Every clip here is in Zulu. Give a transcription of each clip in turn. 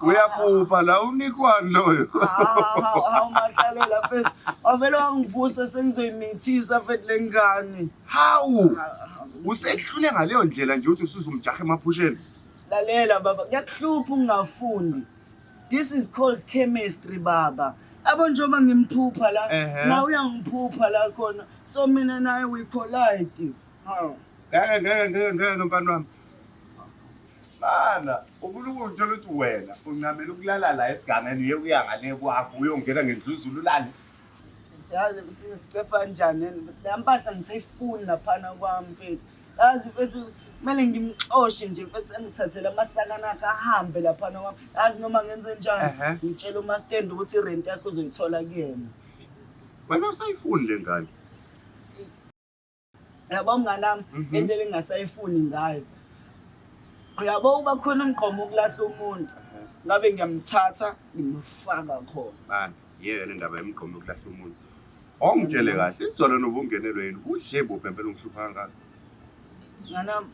uyaphupha la unikwani loyo awumahlalela fesi wavele wangivusa sengizoyimithisa fethi le ngane hawu usehlule ngaleyo ndlela nje ukuthi usuzumjaha emaphusheni lalela baba kuyakuhlupha ungafundi This is called chemistry baba. Abo njengoba ngimphupha la, Ehhe. nawe uyangiphupha la khona. So mina naye we collide. Haw. ngeke ngeke ngeke ngeke mfana wami mana unkulunkulu uthola ukuthi wena uncamela ukulala la esigangeni uye kuya ngale kwakho uyongena ngendluzulu ulale Ngithi yazi ukuthi nisicefa njani. Lempahla ngisayifuni laphana kwami mfethu. yazi mfethu kumele ngimxoshe nje mfethu engithathele amasakana akhe ahambe laphana kwami yazi noma ngenze njani Ehhe. ngitshela umastendi ukuthi irenti yakhe uzoyithola kuyena wena usayifuni le ngane yabo mnganami Mhm. into elingasayifuni ngayo uyabo uba khona umgqomo ukulahla umuntu ngabe ngiyamthatha ngimfaka khona bani yeyona indaba yemigqomo yokulahla umuntu ongitshele kahle izolo nobungenelwe yini udle buphi empela ungihlupha kangaka nganami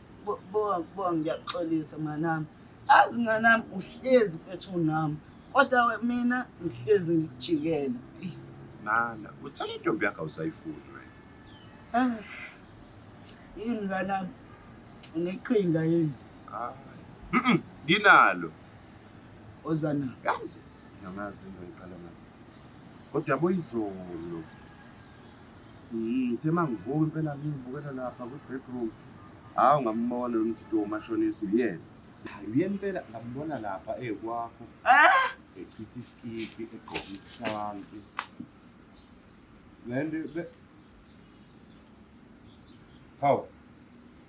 bowa ngiyaxolisa mnganami azi mnganami uhlezi kwethu nami kodwa mina ngihlezi ngikujikela nana uthanda intombi yakho awusayifuni wena ah, yini nganami ngiqhinga yini nginalo Ozana. Kazi. Ngamazi into ngiqala ngayo. Kodwa yabo izolo. Mhm, uthe mangivuka impela ngibukela lapha ku bedroom. Hawu ngambona lo mthito umashonisa uyena. Hayi uyena impela ngambona lapha ekwakho. Ah! Echithi iskipi egqoka ishanti. Lento Hawu.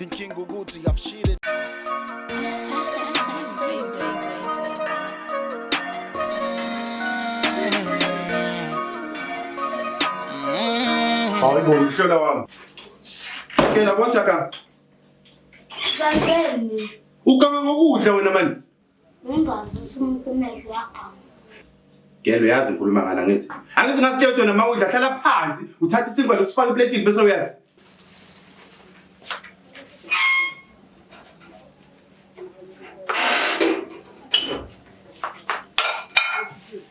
inkinga ukuthi i've cheated Hayi bo mhlola wami. Ke labonja ka. Kanjani? Ukanga ngokudla wena manje. Ngingazisa umuntu umehlo uyagama. Gelo uyazi ngikhuluma ngani angithi? Angithi ngakutshela ukuthi wena mawudla hlala phansi uthathe isinkwa losifaka epletini bese uyadla.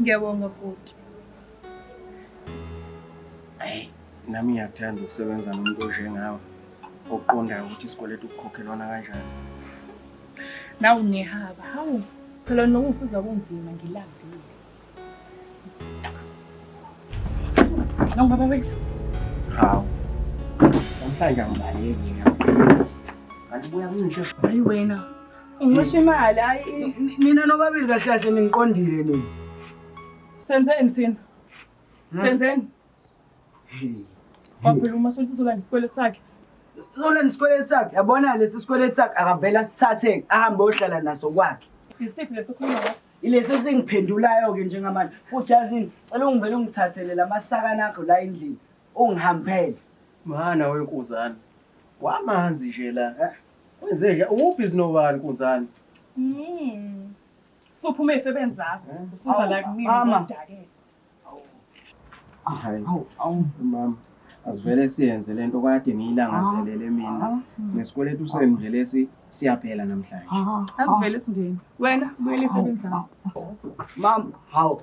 Ngiyabonga bhuti. Ayi, nami ngiyakuthanda ukusebenza nomuntu onjengawe oqondayo ukuthi isikweletu kukhokhelwana kanjani. Nawu nehaba, hawu phela nokungisiza kunzima ngilambile. Nawu baba wethu. Hawu. Namhlanje angibaleki nje. Kanti buya kunje. Hayi wena. Ngisho imali hayi mina nobabili kahle kahle ningiqondile mina. Senzeni thina? Hmm? Senzeni? Baphela uma sothi uzolanda isikweletu sakhe. Uzolanda isikweletu sakhe. Yabona lesi sikweletu sakhe akavela sithathe ahambe ohlala naso kwakhe. Isiphi leso khuluma ngaso? Ilesi esingiphendulayo ke njengamanje. Futhi yazini, cela ungivele ungithathele lamasaka nakho la endlini. Ungihambele. Mana wenkuzana. Wamanzi nje la. Eh? Wenzeka ukuphi sinobani kunzani? Mm. Sophume efebeni zakho. Eh? Usuza la kimi uzodakela. Hayi. Awu, awu mama. Asivele siyenze lento kade ngiyilangazelele mina. Ah. Nesikweletu senu nje lesi siyaphela namhlanje. Ah. Asivele singeni. Wena buyele efebeni zakho. Mama, hawu.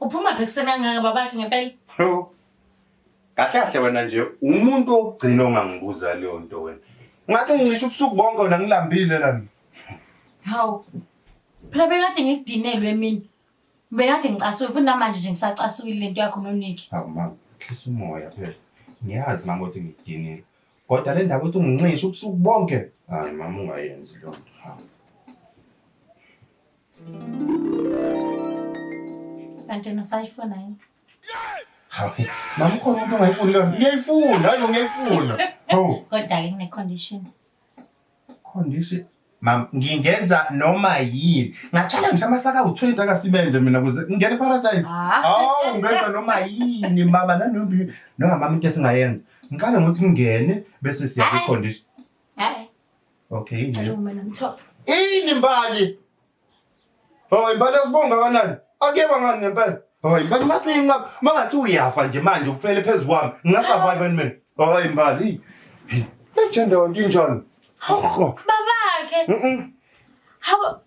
Uphuma bhekuseni kangaka babakhe ngempela. Yo. Kahle kahle wena nje umuntu ogcina ongangibuza leyo nto wena. Ngathi ngicisha ubusuku bonke wena ngilambile lana. Hawu. Phela bekade ngidinelwe mina. Bekade ngicasuke futhi namanje nje ngisacasukile lento yakho noNiki. Hawu mama, khisa umoya phela. Ngiyazi mama ukuthi ngidinile. Kodwa le ndaba ukuthi ungincisha ubusuku bonke. Hayi mama ungayenzi leyo nto. Hawu. Kanti usayifuna yini? Hayi, mama khona umuntu ongayifuni lona. Ngiyayifuna, hayi ngiyayifuna. Oh. Kodwa-ke kune-condition. Condition. Mam, ngingenza noma yini. Ngathwala ngisho amasaka awu-20 akasimende mina kuze ngingene eparadise. Ah. Awu, ngenza noma yini mama nanoma yini. No, mama into esingayenza. Ngiqale ngokuthi ngingene bese siya Hayi. kwi-condition. Hayi. Okay, ingcela. Hello mina ngithola. Ini mbali. Hayi mbali asibonga kanani? Akuyekwa ngani ngempela? Hayi mbali ngathi uyinqaba. Mangathi uyafa nje manje ukufele phezulu kwami. Ngina survive and mina. Hayi mbali. Legend on injalo. Hawu. Babakhe. Mhm. Hawu.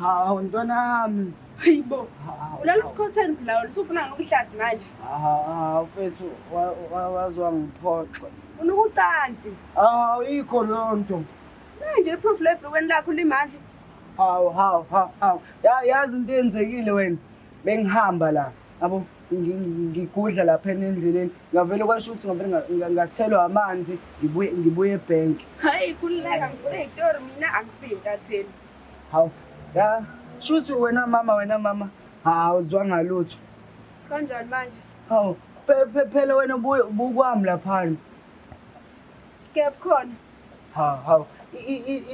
Hawu ntwana yami. Hayibo. Ulala isikhotheni phela usufuna ngokuhlathi manje. Hawu mfethu wazwa ngiphoxwe. Unukucansi. Hawu ikho lonto. Manje iproof lebhekweni lakho limanzi. Hawu hawu hawu. Yazi into eyenzekile wena. Bengihamba la. yabo ngigudla lapha endleleni ngavele kwasho ukuthi ngavele ngathelwa amanzi ngibuye ngibuye ebhenki hayi kululeka ngivule itori mina angisiyintatheli hawu ya shuthi wena mama wena mama hawu zwanga lutho kanjani manje hawu phela wena buye bukwami laphana kepkhona hawu hawu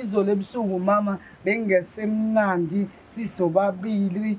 izolo ebusuku mama bengingesemnandi sisobabili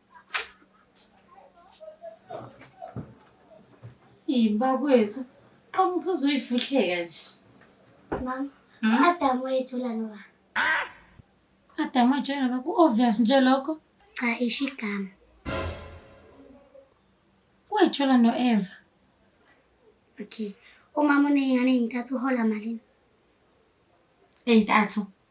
Yibakwethu, qoma ukuthi uzoyifuhleka nje. Mama, Hmm? Adam wayethula noba. Adam wajoyina ba ku-obvious nje lokho. Cha isho igama. Wayithola no-Eva. Okay. Umama uneyingane ezintathu uhola malini? Ey'ntathu.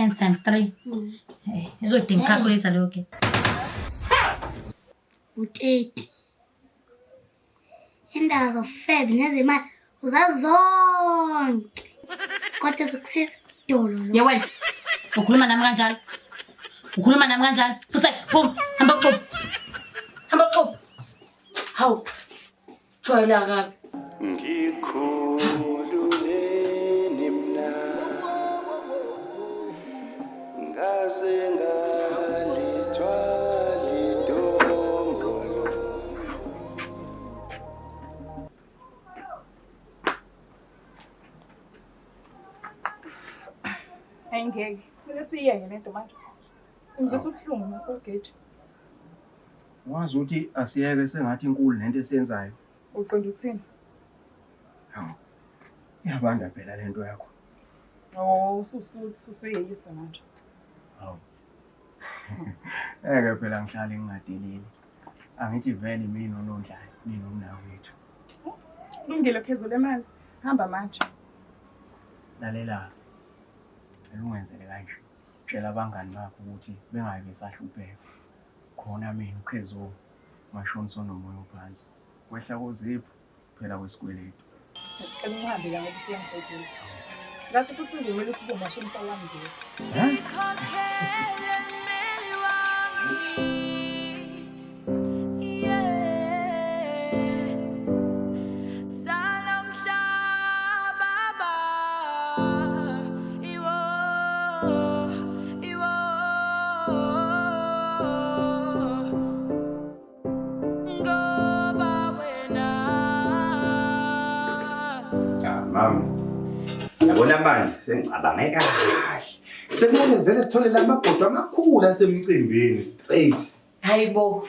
10 times 3 mm. eh, izodinga hey. calculator leyo ke u-30 indaba zofebe nezemali uzazi zonke kodwa ezokusiza dolo ye wena ukhuluma nami kanjalo ukhuluma nami kanjalo fusek phum hamba kuxuba hamba kuxuba hawu Jwayela kabi. Ngikhululeni mna ngaze ngalithwala idombolo. Hayi ngeke. Kumele siyeke lento manje. Umzisa ubuhlungu ngakho ugate. Wazi ukuthi asiyeke sengathi inkulu lento esiyenzayo. Uqonda ukuthini? Hawu. Iyabanda phela lento yakho. Oh, ususuthi usuyeyisa manje. Hawu. Eke phela ngihlale ngingadeleli. Angithi vele mina unondlayo, mina umnawo wethu. Lungile phezulu emali. Hamba manje. Lalela. Elungenzele kanje. Tshela abangani bakho ukuthi bengayi besahlupheka. khona mina uKhezo washona sonomoya ophansi kwehla kozipho phela kwesikweletu ngicela ungihambe la ngoba usiyangibhedela ngathi futhi ngimele ukuthi ubomashini msawami nje Mama. Yabona manje sengicabange kahle. Sekumele ngivele sithole la magodo amakhulu asemcimbini straight. Hayibo.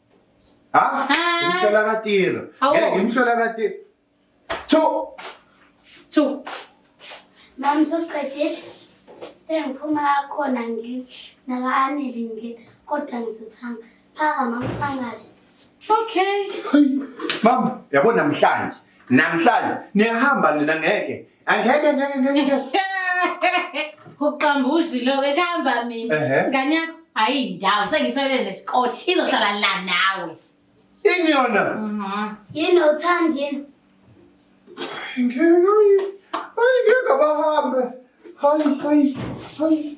Ha? Ah. Ngimhlola katiro. Awu. Ngeke ngimhlola katiro. Thu. Two. Mama usuqedile. Sengiphuma khona ngidle. Naka-anele ngidle. Kodwa ngizothanga. Phaka mama phangashe. Okay. Hayi. Mama, yabo namhlanje. Namhlanje niyahamba nina ngeke. Angeke ngeke ngeke. Uqambushi lo ke hamba mina. Ehhe. Ngane yakho hayi ndawo sengitholele nesikole izohlala la nawe. Ini yona? Mhm. Yini awuthandi yini? Ngeke. Hayi ngeke abahambe. Hayi hayi hayi.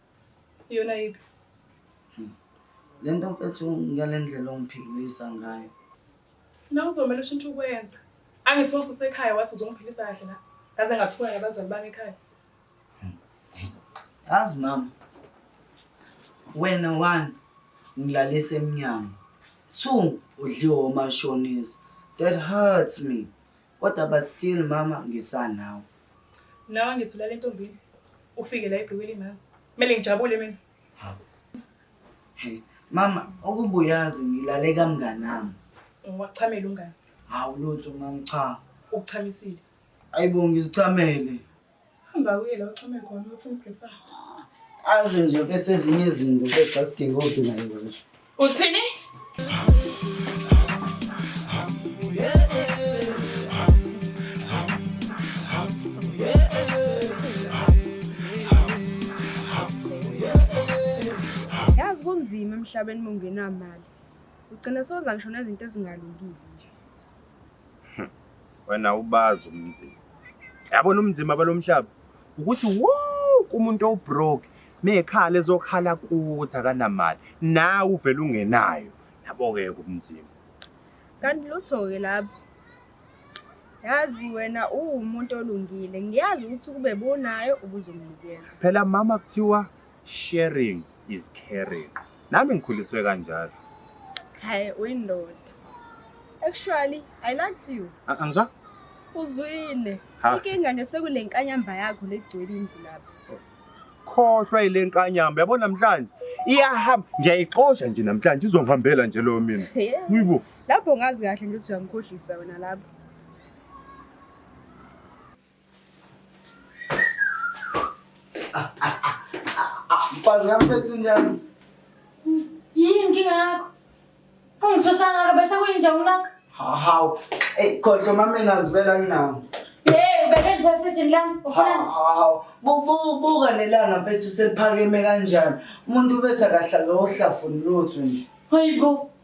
Iyona yiphi? Hmm. Le nto mfethu ngale ndlela ongiphikilisa ngayo. Na uzomele ushintshe ukwenza. Angithi wasusa ekhaya wathi uzongiphilisa kahle la. Ngaze ngathuka nabazali bami ekhaya. Hmm. Yazi mama. Wena one ngilalisa emnyango. Two udliwe omashonisa. That hurts me. Kodwa but still mama ngisanawe. Nawe ngizula le ntombini. Ufike la ibhluke limanzi. Kumele ngijabule mina. Hey, mama ukubuyazi ngilale kamnganami. Ngwachamela umngane. Hawu lutho mama cha. Ukuchamisile. Ayibo ngizichamele. Hamba uye la uchame khona ufuna breakfast. Azi nje uphethe ezinye izinto uphethe asidinga odina nje. Uthini? Yazi kunzima emhlabeni mungenamali. Ugcina soza ngisho nezinto ezingalungile. wena ubazi umzima yabona umzima balomhlaba ukuthi wonke umuntu owubroke mekhala ezokhala kuthi akanamali nawe uvela ungenayo yabo-ke kumzima kanti lutho-ke lapho yazi wena uwumuntu olungile ngiyazi ukuthi ukube bonayo ubuzomnikeza phela mama kuthiwa Sharing is caring. Nami ngikhuliswe kanjalo. Hayi uyindoda. Actually, I liked you. A- Angizwa? Uzwile. Ha. Inkinga nje sekule nkanyamba yakho legcwele indlu lapha. Khohlwa ile nkanyamba yabo namhlanje. Iyahamba ngiyayixosha nje namhlanje izongihambela nje leyo mina. Yeah. Uyibo. Lapho ngazi kahle nje ukuthi uyangikhohlisa wena lapho. Mfazi amphethe njani? Yini inkinga yakho? Ungithusana kabe sekuyinja unaka? Hawu. Ey khohlwa mamela azivela nginawo. Hey, ubeke ndiphethe lami. Ufuna Hawu. Bubu buka nelanga mfethu seliphakeme kanjani. Umuntu ubetha kahle akawohlafuni lutho nje. Hayibo.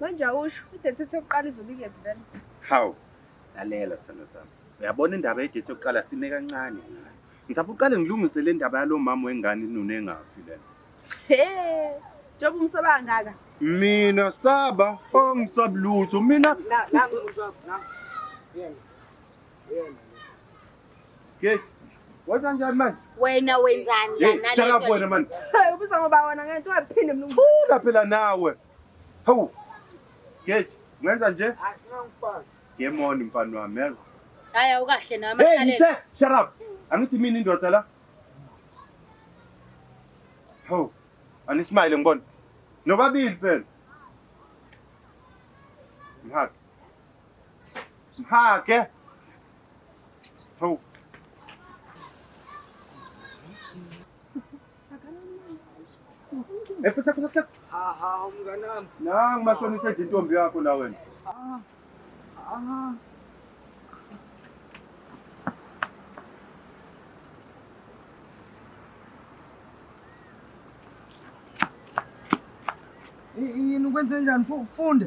Manje awusho idate ethi yokuqala izobe ikephi vele? Hawu, lalela sithando sami. Uyabona indaba yedate yokuqala sime kancane. Ngizapha uqale ngilungise le ndaba yalo mama wengane inuna engafi lena. He, njengoba umsaba kangaka. Mina saba, angisabi lutho. Mina Nangu umuntu wakho, nangu. Yena. Yena. Hey, wenza njani manje? Wena wenzani la nale? Shut up wena manje. Hey, ubuza ngoba wena ngeke ungaphinde mlungu. Thula phela nawe. Hawu. Hey, ngenza nje? Asinangifana. Yemoni mfana wami, yazi. Hayi awukahle nawe amakhaleni. Hey, shut up. Angithi mina indoda la. Hawu. Anismile ngibona. Nobabili phela. Mhaka. Mhaka. Hawu. Eh, pesa pesa pesa. Ah, ah, mnganami. Na ngimashonisa nje intombi yakho la wena. Ah. Ah. Yini ukwenze njani? Funde.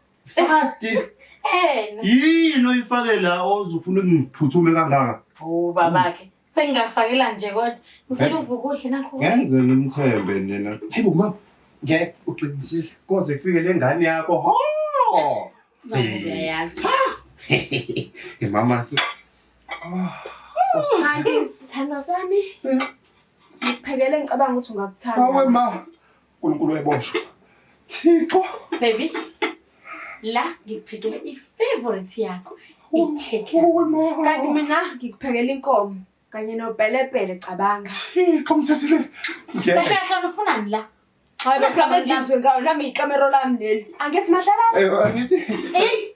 Fast. Eh. Yini oyifake la ozufuna ukuphuthume kangaka? Oh babakhe. Sengingakufakela nje kodwa. Ngicela eh. uvuke uhle nakho. Ngenze ngimthembe nina. Hayibo mama. Ngeke uqinisile. Koze kufike lengane yakho. Ho! Ngiyayazi. Imama si. Ah. Usithanda isithando sami. Eh. Ngiphekele ngicabanga ukuthi ungakuthanda. Awe ma. Nkulunkulu weboshwa. Thixo. Baby. La ngikuphekele i-favorite yakho. I-chicken. Kanti mina ngikuphekela inkomo kanye nopelepele cabanga. Thixo mthathile. Ngeke. Kahle kahle ufunani la? Hayi baphakadizwe ngawo nami ikamero lami leli. Angithi madlala. Eh angithi. Eh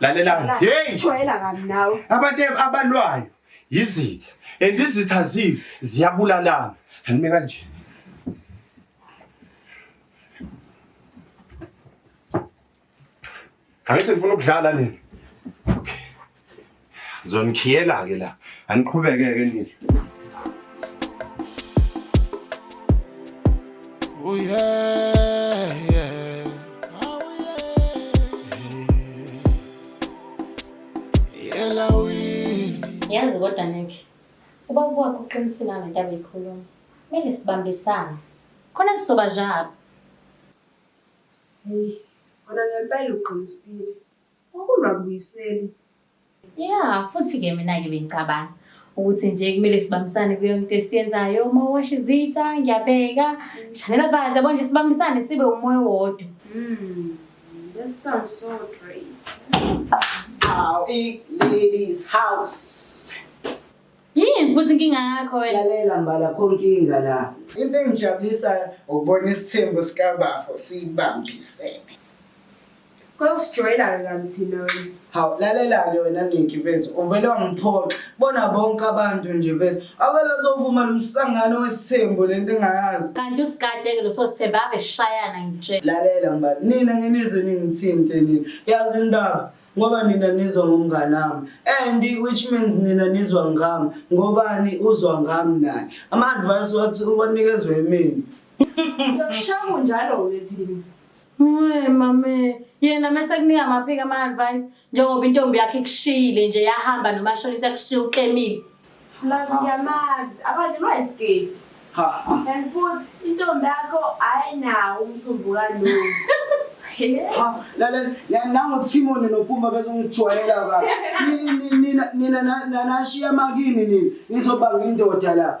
lalelani hey jwayela kabi nawe abantu abalwayo yizitha and izitha ziyo ziyabulalana anime kanje Kangithi ngifuna ukudlala nini? Okay. Zonikhiyela ke la. Aniqhubeke ke nini. Oh yeah, yeah. Oh yeah. Yela win. Yazi kodwa Nick. Uba kwakho uqinisile ngento abeyikhuluma. Kumele sibambisane. Khona sizoba njalo. Hey, kona ngempela uqinisile. Okungabuyiseli. Yeah, futhi ke mina ke bengicabanga ukuthi nje kumele sibambisane kuyo into esiyenzayo uma washa izitsha ngiyabheka mm. shanela phansi yabo nje sibambisane sibe umoya wodwa. Mm. That sounds so great. How it ladies house. Yini futhi inkinga yakho wena? Lalela mbala kho inkinga la. Into engijabulisayo ukubona isithembu sikabafo siyibambisene. Kwawusijwayela-ke kani thina wena. Hawu lalela-ke wena Niki mfethu uvele wangiphoxa bona bonke abantu nje mfethu avele azovuma lo msangano wesithembu le nto engayazi Kanti usikade-ke lo sosithembe ave shayana ngitshela. lalela mbali nina ngenize ningithinte nina yazi indaba ngoba nina nizwa ngomngane wami and which means nina nizwa ngami ngobani uzwa ngami naye ama-advice wathi uwanikezwe yimina Siyakushaya kunjalo-ke thina. Hey mame, yena mese kunika amaphika ama advice njengoba intombi yakhe ikushiyile nje yahamba nomashonisa kushiya uqemile. Plus ngiyamazi abadlulwa yisketi. Ha. And futhi intombi yakho ayinawo umthumbu kalungu. Ha, lalela la- nango Timon noPumba bezongijwayela ba. Nina nina nina na- na- nashiya makini nina. Ngizobanga indoda la.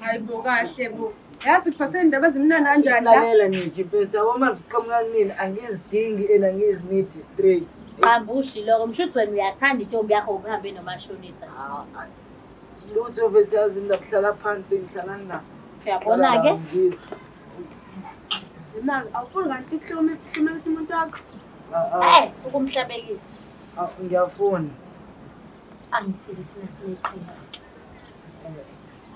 Hayi bo kahle bo. Yazi kuphathe indaba ezimnandi kanjani la? Lalela Nikki mfethu yabo uma ziqhamuka kunini angizidingi and angizinidi straight. Qambushi lokho msho ukuthi wena uyathanda intombi yakho ukuhambe nomashonisa. Ah, ah. Lutho mfethu yazi mina kuhlala phansi ngihlala ngina. Uyabona-ke? Imali awufuni kanti ukuhlome ukuhlumelisa umuntu wakho. Ah, ah, Eh, ukumhlabekisa. ah, ngiyafuna. Angithini thina sineqhinga.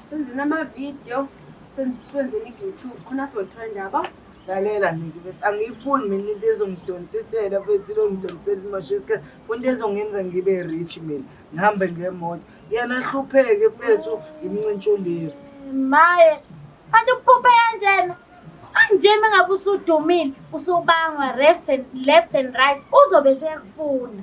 Senzeni ama-video, senziswenzeni i-YouTube, khona sotrenda yabo. lalela miki bethi angiyifuni mina into ezongidonsisela bethi ilongidonsisela imosha isikhathi funa into ezongenza ngibe rich mina ngihambe ngemoto yena ahlupheke fethu ngimncintsha ulive maye kanti ukuphuphe kanjena anjena ngabe usudumile usubangwa left and, left and right uzobe sekufuna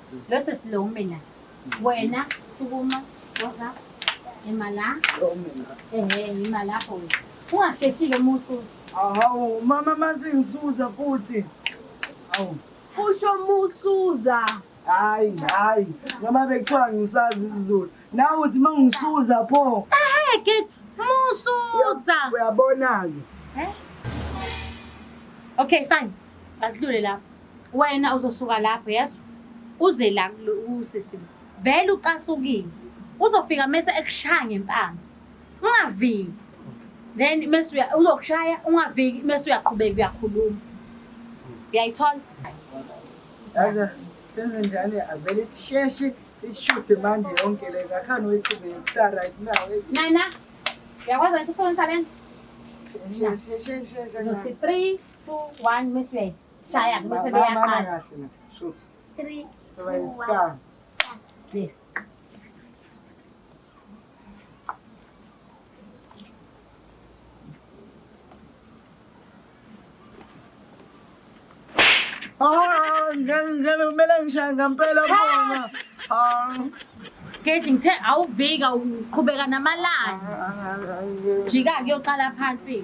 Lose slow mina. Wena sukuma woza imala. Ehe imala ho. Ungasheshile musu. Awu mama mazingisuza futhi. Awu. Usho musuza. Hayi hayi noma bekuthiwa ngisazi isiZulu. Nawe uthi mangisuza pho. Ehe ke musuza. Uyabona ke. Eh? Okay fine. Basidlule lapho. Wena uzosuka lapho yazi uze la usisi vele ucasukile uzofika mese ekushaya ngempama ungaviki then mese uzokushaya ungaviki mese uyaqhubeka uyakhuluma uyayithola senze njani avele sisheshe sishuthe manje yonke le ngakhani wethuba yestar right now nana uyakwazi ukuthi ufonisa lento 3 2 1 mese uyayithola shaya bese beyaqala three two one yes Ah, ganun, ganun, melang siya, gampela po na. Ah, Gage ngithe awuvika uqhubeka namalanga. Jika kuyoqala phansi.